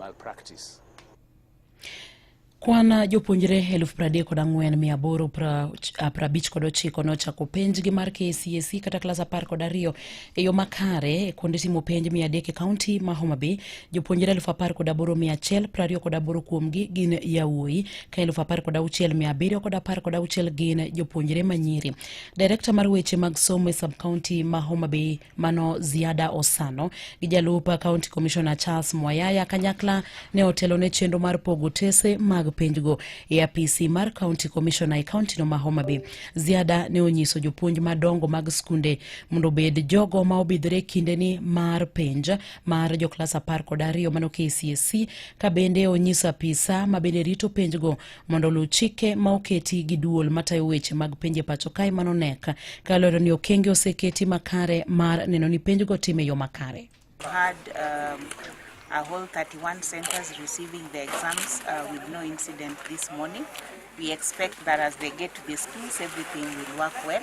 malpractice. Kwan jopuonjre eluf pradek kod ang'wen mia aboro prabich ah, kod ochiko nochako penjgi mar KCSE e kata klas apar kod ariyo e yo makare e kuonde timo penj mia adek e kaunti ma Homa Bay. Jopuonjre eluf apar kod aboro mia achiel prariyo kod aboro kuomgi gin yawuoyi ka eluf apar kod auchiel mia abiriyo kod apar kod auchiel gin jopuonjre manyiri. Direkta mar weche mag somo e sub-kaunti ma Homa Bay mano Ziada Osano gi jalup County Commissioner Charles Mwayaya kanyakla ne otelo ne chenro mar pogo tese mag penjgo e apisi mar County Commissioner e kaunti no ma Homa Bay. Ziada ne onyiso jopuonj madongo mag skunde mondo obed jogo ma obidhore kindeni mar penj mar joklas apar kod ariyo mano KCSE ka bende onyiso apisa ma bende rito penjgo mondo oluw chike ma oketi gi duol matayo weche mag penje pacho kae mano nek ka lero ni okenge oseketi makare mar neno ni penjgo time yo makare had, um, a whole 31 centers receiving the exams uh, with no incident this morning. We expect that as they get to the schools, everything will work well.